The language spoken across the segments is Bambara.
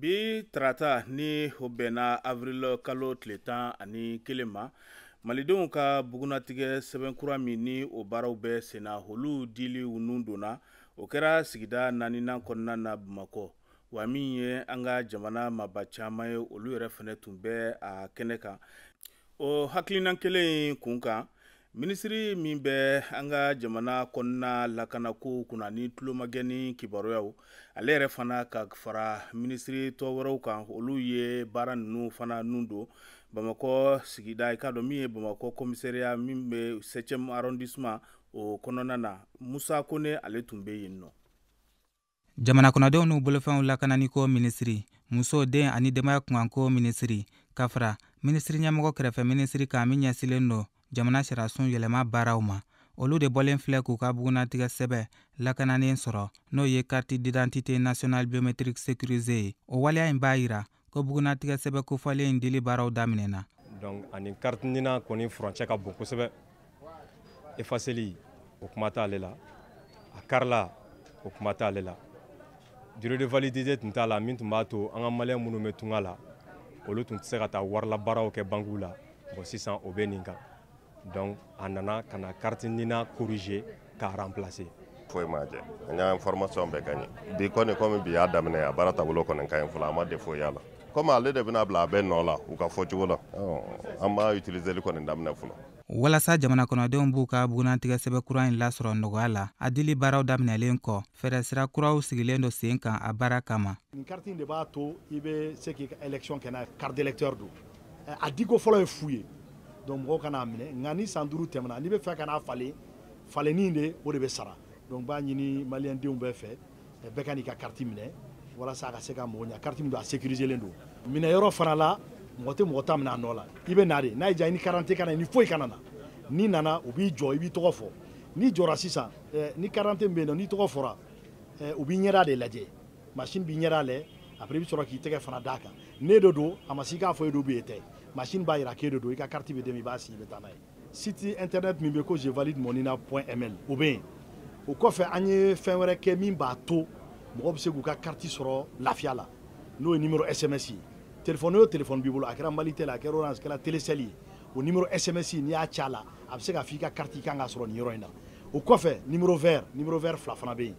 bi tarata ni o bɛnna avril kalo tile tan ani kelen ma malidenw ka bugunnatigɛ sɛbɛn kura min ni o baaraw bɛ senna olu dili nun donna o kɛra sigida naaninan kɔnɔna na bamakɔ wa min ye an ka jamana maba caman ye olu yɛrɛ fana tun bɛ a kɛnɛ kan o hakilina kelen kun kan minisiri min bɛ an ka jamana kɔnɔna lakanako kunna ni tulomagɛn ni kibaruyaw ale yɛrɛ fana ka fara minisiri tɔ wɛrɛw kan olu ye baara ninnu fana nun don bamakɔ sigida i k'a dɔn min ye bamakɔ commissariat min bɛ septième arrondissement o kɔnɔna na musa kone ale tun bɛ yen nɔ jamana kɔnɔdenw n'u bolofɛnw lakananiko minisiri muso den ani denbaya kunkanko minisiri ka fara minisiri ɲɛmɔgɔ kɛrɛfɛ minisiri kan min ɲɛsilen don jamana sariyasun yɛlɛma baaraw ma olu de bɔlen filɛ k'u ka bugunnatigɛ sɛbɛ lakananen sɔrɔ n'o ye carte d'identité nationale biométrique sécurisée ye o waleya in b'a yira ko bugunnatigɛ sɛbɛ kofɔlen in dili baaraw daminɛna donc a ni carte nina kɔni furancɛ ka bon kosɛbɛ effaceli o kuma t'ale la a karila o kuma t'ale la durée de validité tun t'a la min tun b'a to an ka maliyɛn minnu bɛ tunga la olu tun tɛ se ka taa warila baaraw kɛ bankiw la bon sisan o bɛ nin kan donc a nana ka na carte nina corriger k'a remplacer foyi m'a jɛ an y'a information bɛɛ ka ɲɛ bi kɔni komi bi y'a daminɛ a baara taabolo kɔni ka ɲi fɔlɔ an ma défaut y'a la komi ale de bɛna bila a bɛɛ nɔ la u ka fɔcogo la an m'a utiliseli kɔni daminɛ fɔlɔ walasa jamana kɔnɔdenw b'u ka bugunnatigɛ sɛbɛ kura in lasɔrɔ nɔgɔya la a dili baaraw daminɛlen kɔ fɛɛrɛsira kuraw sigilen don sen kan a baara kama nin kariti in de b'a to i bɛ se k'i ka élection kɛ n'a ye carte d'électeur don a diko fɔlɔ ye fu ye donc mɔgɔw ka n'a minɛ nka ni san duuru tɛmɛna n'i bɛ fɛ ka n'a falen falenni de o de bɛ sara donc b'a ɲini maliyɛn denw bɛɛ fɛ bɛɛ ka n'i ka kariti minɛ walasa a ka se ka mɔgɔ ɲa kariti min don a sécuriselen don minɛ yɔrɔ fana la mɔgɔ tɛ mɔgɔ ta minɛ a nɔ la i bɛ na de n'a y'i diya i ni karante kana i ni foyi kana na n'i nana u b'i jɔ i b'i tɔgɔ fɔ n'i jɔra sisan eh, ni karante bɛ yen n'i tɔgɔ fɔra eh, u b'i ɲɛda de lajɛ masini b'i ɲɛda lajɛ après i bɛ sɔrɔ k'i tɛgɛ fana d'a kan n'e de don a masini k'a fɔ e don ou bien e tɛ masini b'a yira k'e de don i ka kariti bɛ d'i ma i b'a si i bɛ taa n'a ye site internet min bɛ ko je valide mon nina point ml o bɛ yen o kɔfɛ an ye fɛn wɛrɛ kɛ min b'a to mɔgɔ bɛ se k'u ka kariti sɔrɔ lafiya la n'o ye nimero sms ye telefɔni o telefɔni b'i bolo a kɛra malitel a kɛra orange kɛra telesɛli ye o numéro sms n'i y'a ci a la a bɛ se k'a fɔ i ka carte i kan k'a sɔrɔ nin yɔrɔ in na o kɔfɛ numéro vert numéro vert fila fana bɛ yen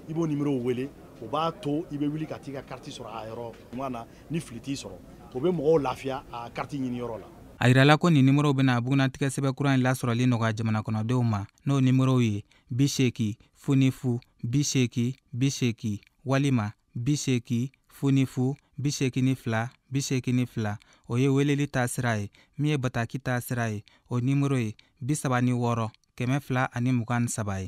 i b'o numéro wele o b'a to i bɛ wuli ka t'i ka carte sɔrɔ a yɔrɔ ɲuman na ni fili t'i sɔrɔ o bɛ mɔgɔw lafiya a carte ɲini yɔrɔ la a yirala ko nin nimorow bɛna bugunnatigɛ sɛbɛn kura in lasɔrɔli nɔgɔya jamanakɔnɔdenw ma n'o nimorow ye bi seeki fu ni fu bi seeki bi seeki walima bi seeki fu ni fu bi seeki ni fila bi seeki ni fila o ye weleli ta sira ye min ye bataki ta sira ye o nimoro ye bi saba ni wɔɔrɔ kɛmɛ fila ani mugan ni saba ye